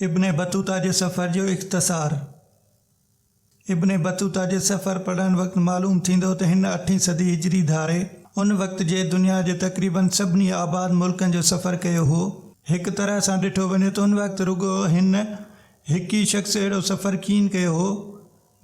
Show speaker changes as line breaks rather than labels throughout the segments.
ابن Battuta جي سفر جو اختصار، ابن بطوطه جي سفر پڙهڻ وقت معلوم ٿيندو ته هن اٺين صدي هجري ڌاري ان وقت جي دنيا جي تقريباً سڀني آباد ملڪن جو سفر ڪيو هو. هڪ طرح سان ڏٺو وڃي ته ان وقت رڳو هن هڪ ئي شخص اهڙو سفر ڪين ڪيو هو.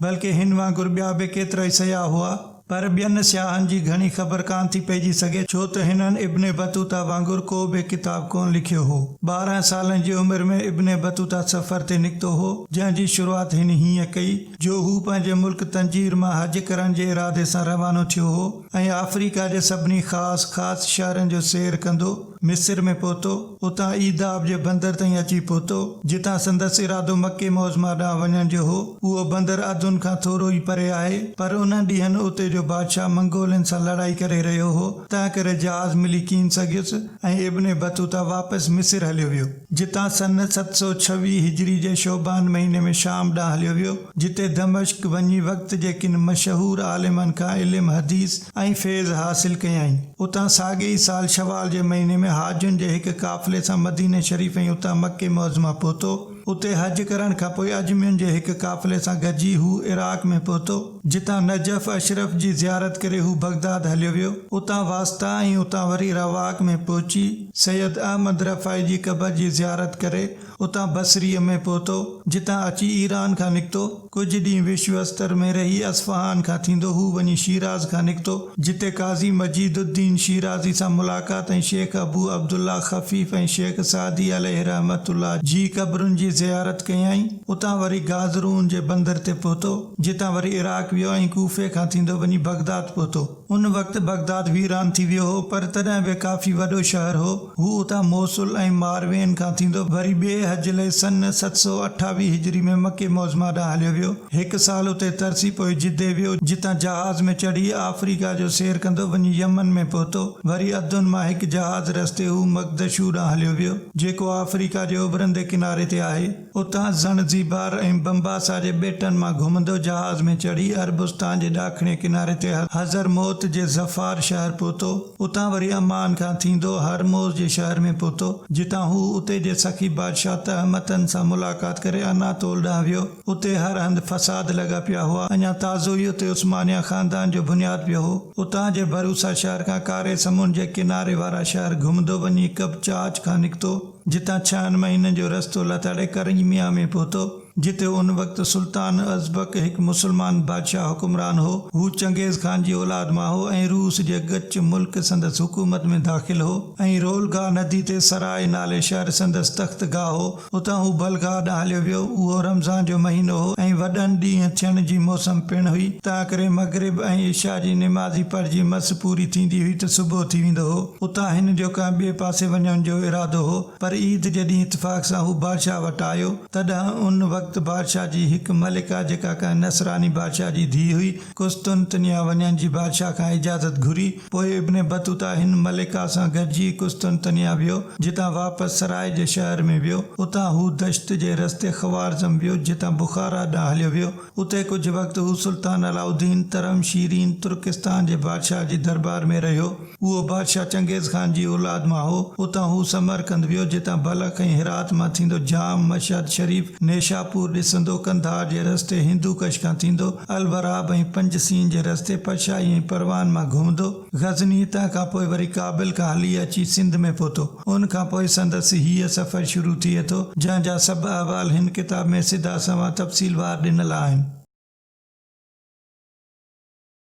بلڪه هن وانگر ٻيا به ڪيترائي سياح هئا. پر ٻين سياحن جي گهڻي خبر ڪانه ٿي پئجي سگهي، ڇو ته هنن ابن بطوطه وانگر ڪو به ڪتاب ڪونه لکيو هو. ٻارهن سالن جي عمر ۾ ابن بطوطه سفر تي نڪتو هو، جنهن جي شروعات هن هيئن ڪئي، جو هو پنهنجي ملڪ تنجير مان حج ڪرڻ جي ارادي سان روانو ٿيو هو ۽ آفريڪا جي سڀني خاص خاص شهرن جو سير ڪندو، مصر ۾ پهتو، اتان ايذاب جي بندر تائين اچي پهتو، جتان سندس ارادو مڪي معظميٰ ڏانهن وڃڻ جو هو، اهو بندر عدن کان ٿورو ئي پري آهي، پر انهن ڏينهن اتي جو بادشاهه منگولن سان لڙائي ڪري رهيو هو، تنهنڪري جهاز ملي ڪين سگهيس ۽ ابن بطوطه واپس مصر هليو ويو، جتان سنه ست سؤ ڇويهه هجري جي شعبان مهيني ۾ شام ڏانهن هليو ويو، جتي دمشق وڃي وقت جي ڪن مشهور عالمن کان علم حديث، ۽ فيض حاصل ڪيائين. اتان ساڳئي ئي سال شوال جي مهيني ۾ حاجين جي هڪ قافلي سان مديني شريف ۽ اتان مڪي معظمه پهتو. اتي حج ڪرڻ کان پوء اجمين جي هڪ قافلي سان گڏجي هو عراق ۾ پهتو. جتان نجف اشرف جي زيارت ڪري هو بغداد هليو ويو. اتان واسطا ۽ اتان وري رواق ۾ پهچي سيد احمد رفاعي جي قبر جي زيارت ڪري اتان بصري ۾ پهتو. جتان اچي ايران کان نڪتو. ڪجهه ڏينهن وشو استر ۾ رهي اصفهان کان ٿيندو هو وڃي شيراز کان نڪتو، جتي قاضي مجيد الدين شيرازي سان ملاقات ۽ شيخ ابو عبدالله خفيف ۽ شيخ سعدي عليه رحمة الله جي قبرن جي زيارت ڪيائين. اتان وري گازرون جي بندر تي پهتو، جتان وري عراق ويو ۽ ڪوفي کان ٿيندو وڃي بغداد پهتو. ان وقت بغداد ويران ٿي ويو هو، پر تڏهن به ڪافي وڏو شهر هو. هو اتان موصل ۽ ماروين کان ٿيندو وري ٻئي حج لئي سن ست سؤ اٺاويهه هجري ۾ مڪي معظميٰ ڏانهن هليو ويو. هڪ سال اتي ترسي پوء جدي ويو، جتان جهاز ۾ چڙهي آفريڪا جو سير ڪندو وڃي يمن ۾ پهتو. وري عدن مان هڪ جهاز رستي هو مقدشو ڏانهن هليو ويو، جيڪو آفريڪا جي اڀرندي ڪناري تي آهي. اتان زڻزيبار ۽ بمباسا جي ٻيٽن مان گهمندو جهاز ۾ چڙهي عربستان جي ڏاکڻي ڪناري تي حضرموت جي ظفار شهر پهتو. اتان وري عمان کان ٿيندو هرموز جي شهر ۾ پهتو، جتان هو اتي جي سخي بادشاهه تهمتن سان ملاقات ڪري اناطول ڏانهن ويو. اتي هر هنڌ فساد لڳا پيا هئا. اڃا تازو ئي اتي عثمانيه خاندان جو بنياد پيو هو. اتان جي بروسا شهر کان ڪاري سمنڊ جي ڪناري وارا شهر گهمندو وڃي قبچاچ کان نڪتو. جتان ڇهن مهينن جو رستو لتاڙي ڪرنگميا ۾ پهتو، جتي ان وقت سلطان ازبڪ هڪ مسلمان بادشاهه حڪمران هو. هو چنگيز خان جي اولاد مان هو ۽ روس جي گچ ملڪ سندس حڪومت ۾ داخل هو ۽ رولگا ندي تي سراء نالي شهر سندس تخت گاهه هو. اتان هو بلگاء ڏانهن هليو ويو. اهو رمضان جو مهينو هو ۽ وڏن ڏينهن ٿيڻ جي موسم پڻ هئي، تنهنڪري مغرب ۽ عشاء جي نماز ئي پڙهجي مس پوري ٿيندي هئي ته صبح ٿي ويندو هو. اتان هن جو ڪنهن ٻئي پاسي وڃڻ جو ارادو هو، پر عيد جي ڏينهن اتفاق سان هو بادشاهه وٽ آيو، تڏهن ان وقت بادشاهه جي هڪ ملڪه، جيڪا ڪنهن نصراني بادشاهه جي ڌيء هئي، قسطنطنيه وڃڻ جي بادشاهه کان اجازت گهري. پوء ابن بطوطه هن ملڪه سان گڏجي قسطنطنيه ويو، جتان واپس سرائي جي شهر ۾ ويو. اتان هو دشت جي رستي خوارزم ويو، جتان بخارا ڏانهن هليو ويو. اتي ڪجهه وقت هو سلطان علاء الدين ترحم شيرين ترڪستان جي بادشاهه جي دربار ۾ رهيو. اهو بادشاهه چنگيز خان جي اولاد مان هو. اتان هو سمرقند ويو، جتان بلخ ۽ هرات مان ٿيندو جام، مشهد شريف، نيشاپور ڏسندو، قنڌار جي رستي هندو ڪش کان ٿيندو، الوراب ۽ پنج سين جي رستي پشائي ۽ پروان مان گهمندو، غزني، تنهن کان پوء وري ڪابل کان هلي اچي سنڌ ۾ پهتو. ان کان پوء سندس هيء سفر شروع ٿئي ٿو، جنهن جا سڀ احوال هن ڪتاب ۾ سڌا سنئون تفصيل وار ڏنل آهن.